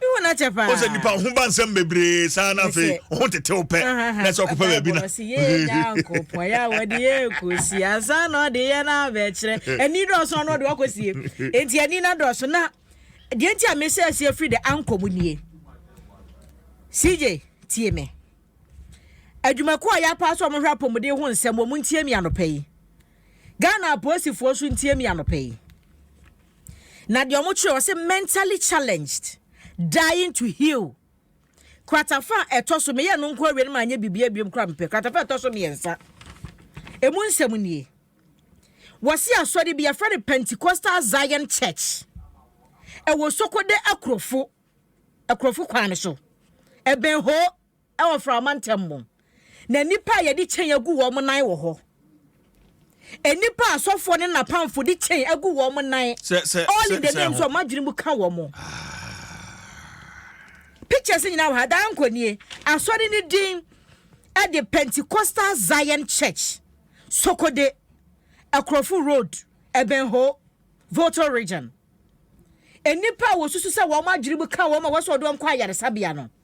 o sɛ nipa ɔho ba nsɛm bebree saa na afei ɔho tetew pɛ na sɛ ɔkɔpɛ baabi na. ɔsi yee nyankopɔn ya wɔde yɛ kosi ansa na ɔde yɛ na abɛkyerɛ ɛni dɔɔso ano ɔde wakɔ sie eti ɛni na dɔɔso na deɛ nti a mesɛ ɛsi efiri de ankɔ mu nie cj tie me adwumakuo a yɛapa so a wɔhwɛ apɔmuden ho nsɛm wɔn ntie mi anɔpɛ yi ghana apolisifoɔ so ntie mi anɔpɛ yi. Na deɛ wɔn kyerɛ ɔsɛ mentally challenged dying to heal kratafa a ɛtɔ so meyɛ no nko awie no ma anyɛ bibia biom kora mepɛ kratafa a ɛtɔ so mmiɛnsa emu nsɛm nie wɔsi asɔre bi yɛfrɛ no Pentecostal Zion Church ɛwɔ Sokode akurofo akurofo kwan no so ɛbɛn hoo wɔ mframa ntam mu, na nnipa a yɛde kyɛn agu wɔn nan wɔ hɔ. Nnipa a asɔfoɔ ne n'apamfo de kyɛn agu wɔn nan, Sɛ sɛ all in sɛ the sɛ name, ho. sɛ wɔn adwene mu ka wɔn. Pictures nyinaa wɔ ha, daa nkɔ nie. Asɔre no din de Pentecostal Zion Church, Sokode, Akorofo Road, Ebenho, Volta Region. Nnipa a wɔsusu sɛ wɔn adwene mu ka wɔn a wɔasɔ wɔn de wɔn kɔ ayaresabea no,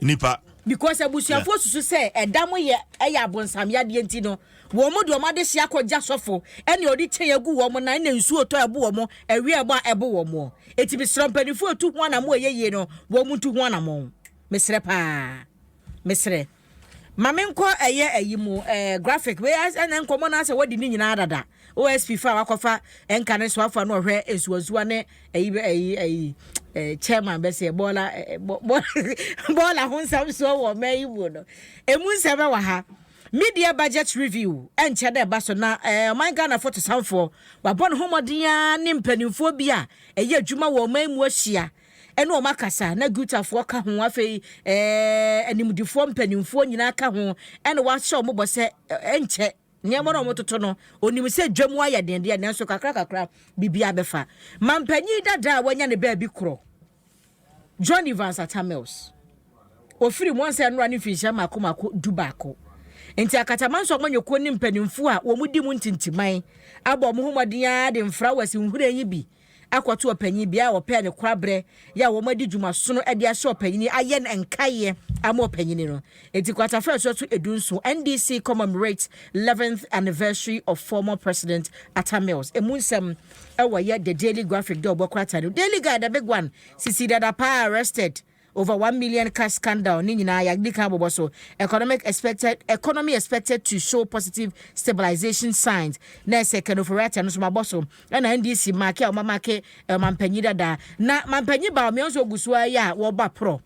nipa. because abusuafoɔ yeah. susu sɛ ɛda mo yɛ ɛyɛ abonsam yadeɛ nti no wɔn mu de wɔn adehye akɔgya sɔfo ɛna ɔde kyɛn agu wɔn na ɛna nsuo tɔ ɛbo wɔn ɛwia ɛbɔ a ɛbo wɔn eti mesrɛ mpanimfoɔ etu ho anamɔ ɛyɛ yie no wɔn mu ntu ho anamɔ mesrɛ paa mesrɛ. Ma me nkɔ ɛyɛ ayi mu ɛɛ graphic wei ɛna nkɔmɔ na asɛ wɔdi ne nyinaa dada OSP fa wakɔfa ɛnka ne soafoɔ na ɔhwɛ nsuwansuwa ne ɛyi ɛyi ɛyi ɛɛ chairman bɛsɛ bɔɔla ɛɛ bɔɔla ho nsɛm soɔ wɔ ɔman yi mu no emu nsɛm ɛwɔ ha media budget review ɛnkyɛ dɛ ɛba so na ɛɛ ɔman Ghana fotosanfoɔ wabɔ ne ho mmɔden ara ne mpanimfoɔ bi a ɛyɛ adwuma wɔ ɔman mu ahyia ɛne wɔn akasa, na Gutafoɔ ka ho, afei ɛɛ animdefoɔ mpanimfoɔ nyinaa ka ho, ɛna wahyɛ wɔn bɔ sɛ ɛnkyɛ nneɛma no a wɔtoto no, onim sɛ dwa mu ayɛ den deɛ, nanso kakra kakra biribi abɛfa. Mampanyin dada a wanya ne baabi korɔ, John Evans Atta Mills, ofiri Mwansa Nnora ne mfinhyia mako mako du baako. Nti Akatamanso amanyɔkuo ne mpanimfoɔ a wɔn di mu ntintiman abɔ wɔn ho mmɔden ara de mfrawɛs nhwiren yi bi akɔto ɔpanyin bea a wɔpɛɛ no korabrɛ yɛ a wɔadi dwuma sono de ahyɛ ɔpanyin yi ayɛ no nkaeɛ ama ɔpanyin no. Enti Kwatafre Asuatu Edu Nson, NDC Commemorates 11th Anniversary of Former President Atta Mills. Emu nsɛm wɔ yɛ The Daily Graphic dɛ ɔbɔ krataa no Daily Guide a Big One sisi dada paa arrested Over one million cash scandal ne nyinaa yɛadi kan abobɔ so. Economic expected Economy expected to show positive stabilisation signs na ɛsɛ Kano for Ratia no nso mabɔ so. Ɛna NDC make a wɔamake ɔmampanyin dada. Na mampanyin Bawumia nso ɔgu so ara yi a wɔbɔ aporɔ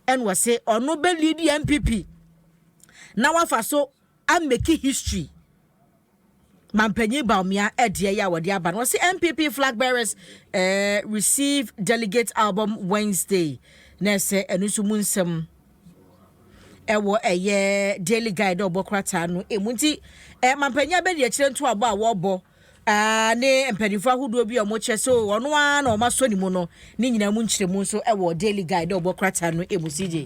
ɛna ɔse ɔno bɛleadi NPP na wafa so a make history Mampanyin Bawumia ɛdeɛ yɛ a wɔde aba no wɔsi NPP flag bearers eh, receive delegate album Wednesday na ɛsɛ ɛno nso mu nsɛm ɛwɔ ɛyɛ daily guide a ɔbɔ krataa no emu nti eh, Mampanyin abɛdi akyire ntoabɔ a wɔbɔ ah, ne mpanimfoɔ ahodoɔ bi a wɔkyerɛ sɛ ɔno ara na wɔasɔ ne mu no ne nyinaa mu nkyerɛmu nso ɛwɔ daily guide a ɔbɔ krataa no emu si gye.